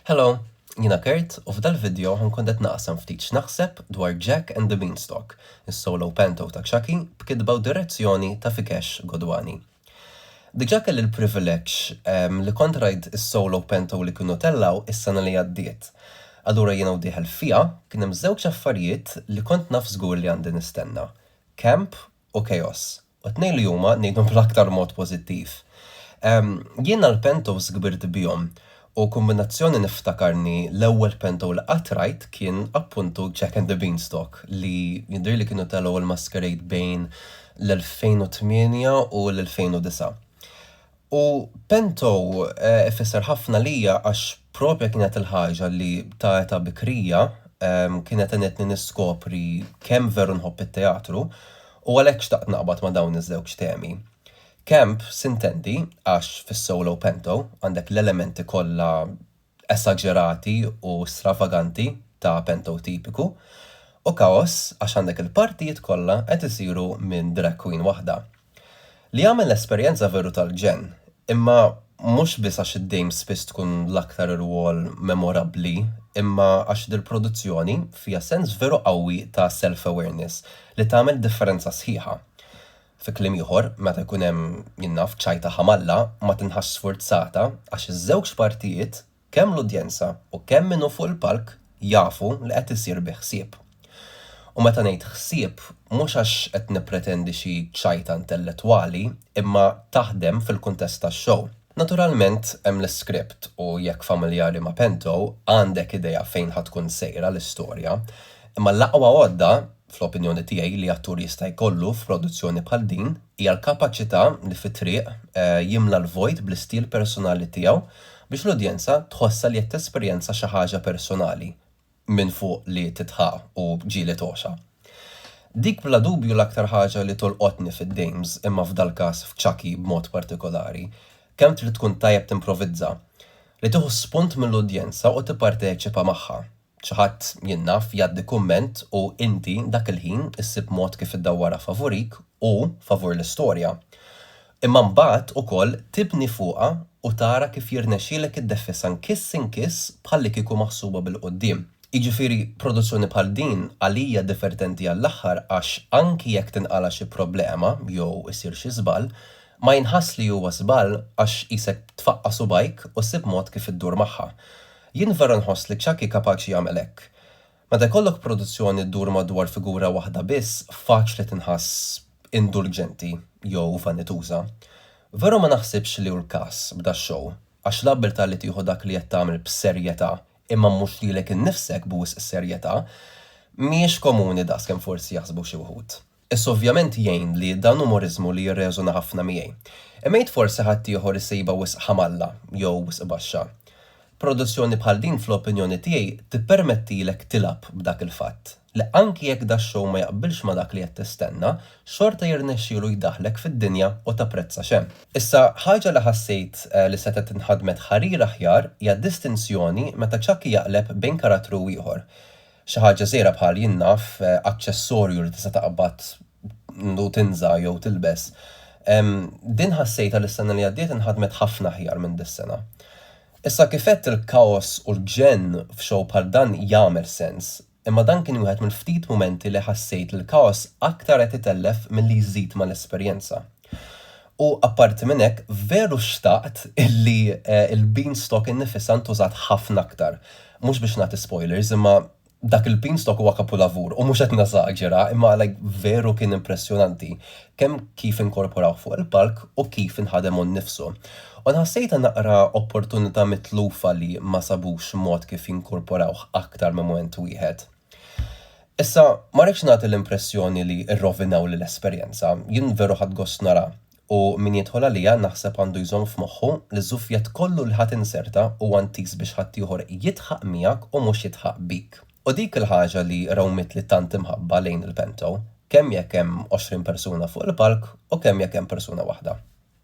Hello, jiena Kurt u f'dal video ħa nkun qed naqsam ftit x'naħseb dwar Jack and the Beanstalk, is-solo panto ta' Chucky b'kitba u direzzjoni ta' Vikesh Godwani. Diġà kelli l-privileġġ li kont rajt is-solo panto li kienu tellgħu is-sena li għaddiet. Allura jiena u dieħel fiha, kien hemm żewġ affarijiet li kont naf żgur li għandi nistenna, camp u chaos. U t-tnejn li huma, ngħidhom bl-aktar mod pożittiv. Jiena l-pentos kbirt bihom u kombinazzjoni niftakarni l-ewwel pento li qatt rajt kien appuntu Jack and the Beanstalk li jidhirli kienu telgħu l-Masquerade bejn l-2008 u l-2009. U Pento ifisser ħafna għalija għax propja kienet il-ħaġa li ta' età bikrija kienet għenitni niskopri kemm veru nħobb it-teatru u għalhekk xtaqt naqbad ma' dawn iż-żewġ temi. Camp s'intendi għax fis-solo Pento għandek l-elementi kollha esaġerati u stravaganti ta' Pento tipiku, u kaos għax għandek il-partijiet kollha qed isiru minn drag queen waħda. Li għamel l-esperjenza veru tal-ġenn, imma mhux biss għax id-dame spiss tkun l-aktar irwol memorabbli imma għax dil-produzzjoni fiha sens veru qawwi ta' self-awareness li tagħmel differenza sħiħa. Fi kliem ieħor, meta jkun hemm, jien naf, ċajta ħamalla, ma tinħassx sfurzata għax iż-żewġ partijiet, kemm l-udjenza u kemm min hu fuq il-palk, jafu li qed isir bi ħsieb. U meta ngħid ħsieb, mhux għax qed nippretendi xi ċajta intellettwali, imma taħdem fil-kuntest tax-show. Naturalment hemm l-iskript u jekk familjari ma' Pento, għandek idea fejn ħa tkun sejra l-istorja. Imma l-aqwa għodda, fl-opinjoni tiegħi, li attur jista' jkollu f'produzzjoni bħal din hija l-kapaċità li fit-triq jimla l-vojt bl-istil personali tiegħu biex l-udjenza tħossha li qed tesperjenza xi ħaġa personali, minn fuq li titħa u ġieli togħxa. Dik bla dubju l-aktar ħaġa li tolqotni fid-dames imma f'dal-każ f'Chucky b'mod partikolari, kemm trid tkun tajjeb timprovizza. Li tieħu spunt mill-udjenza u tipparteċipa magħha. Xi ħadd, jien naf, jgħaddi kumment u inti dak il-ħin issib mod kif iddawwarha favurik u favur l-istorja. Imma mbagħad ukoll tibni fuqha u tara kif jirnexxielek iddeffisha nkiss inkiss bħallikieku maħsuba bil-quddiem. Jiġifieri produzzjoni bħal din għalija divertenti għall-aħħar għax anki jekk tinqala' xi problema jew isir xi żball, ma jinħass li huwa żball għax qisek tfaqqa' subgħajk u ssib mod kif iddur magħha. Jien vera nħoss li Chucky kapaċi jagħmel hekk. Meta jkollok produzzjoni ddur madwar figura waħda biss, faċli tinħass indulġenti jew vanituża. Veru ma naħsibx li hu l-każ b'dax-show, għax l-abbiltà li tieħu dak li qed tagħmel b'serjetà, imma mhux lilek innifsek b'wisq serjetà, mhijiex komuni daqskemm forsi jaħsbu xi wħud. Issa ovvjament jgħin li dan hu moriżmu li jirreżona ħafna miegħi. Imma jgħid forsi ħaddieħor isibha wisq ħamalla jew wisq baxxa. Produzzjoni bħal din fl-opinjoni tiegħi tippermettilek tilgħab b'dak il-fatt, li anki jekk dax-show ma jaqbilx ma' dak li qed tistenna, xorta jirnexxielu jdaħħlek fid-dinja u tapprezza x'hemm. Issa, ħaġa li ħassejt li setgħet inħadmet ħarir aħjar hija d-distinzjoni meta Chucky jaqleb bejn karattru u ieħor. Xi ħaġa żgħira bħal, jien naf, aċċessorju li tista' taqbad u tinża' jew tilbes. Din ħassejtha li s-sena li għaddiet inħadmet ħafna aħjar minn dis-sena. Issa kif għedt il-kaos u l-gġenn f'show bħal dan jagħmel sens, imma dan kien wieħed mill-ftit mumenti li ħassejt li l-kaos aktar qed itellef milli jżid mal-esperjenza. U apparti minn hekk, veru xtaqt illi l-beanstalk innifisha ntużat ħafna aktar. Mhux biex nagħti spoilers, imma dak il-beanstalk huwa kapulavur, u mhux qed neżaġera, imma like veru kien impressjonanti, kemm kif inkorporawh fuq il-palk u kif inħadem hu nnifsu. U nħassejtha naqra opportunità mitlufa li ma sabux mod kif jinkorporawh aktar minn mument wieħed. Issa, ma rridx nagħti l-impressjoni li rrovinawli l-esperjenza, jien veru ħadt gost nara u min jidħol għalija naħseb għandu jżomm f'moħħu li ż-żufjett kollu li ħa tinserta huwa ntiż biex ħaddieħor jidħaq miegħek u mhux jidħaq bik. U dik il-ħaġa li rawmitli tant imħabba lejn il-Pento, kemm jekk hemm għoxrin persuna fuq il-palk u kemm jekk hemm persuna waħda.